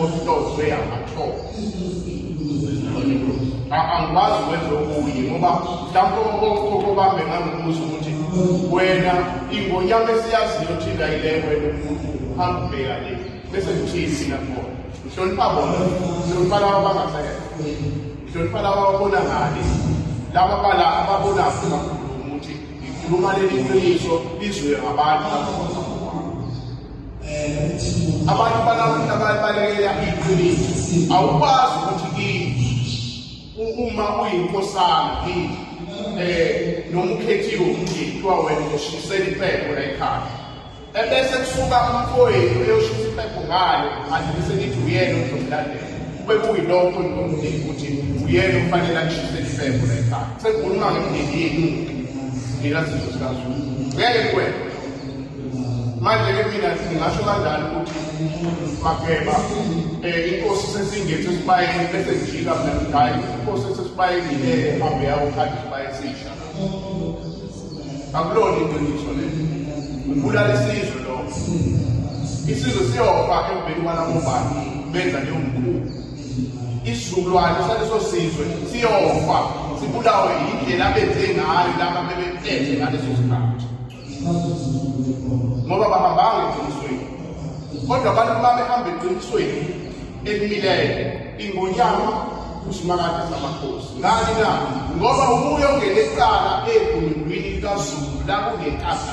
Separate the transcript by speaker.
Speaker 1: ohlozwe amathongo angikwazi wenze okunye ngoba mhlawumbe okobambe ngangibuza ukuthi wena ingonyama esiyaziyo thina yile wena umuntu uhamba ubheka le bese ngithini mina khona ngihlonipha bona ngihlonipha laba abangasekela ngihlonipha laba ababona ngani laba bala ababonakho bakhuluma ukuthi ngikhuluma leli qiniso lizwe ngabantu abantu balawula balekela iqiniso awukwazi ukuthi uma uyinkosana yini eh noma ukhethiwe umndeni kuthiwa wena uzoshisela impepho la ekhaya ebese kusuka umfowethu eyoshisa impepho ngalo manje bese nithi uyena ozomlandela kube kuyilokho nomndeni ukuthi uyena ufanele akushisele impepho la ekhaya sekukhuluma ngemndeni yenu nina sizwe sikazulu ngeke kwena manje ke mina ngingasho kanjani ukuthi maphepha um eh, inkosi sesingethe esibayeni bese ngijika mina ngidayi inkosi sesibayeni le hambe yawo khathi isibayeni sisha akulona iqiniso le ubulala isizwe lo isizwe siyofa emveni kwanamobani benza leyo mkhulu isizukulwane saleso sizwe siyofa sibulawe yindlela abenze ngayo laba bebephethe ngaleso sikhathi ngoba bahambanga eqinisweni kodwa abantu babehamba eqinisweni elimileyo ingonyama usimakade samakhosi ngani na ngoba ubuye ongene ecala egunundwini likazulu lakungenkasa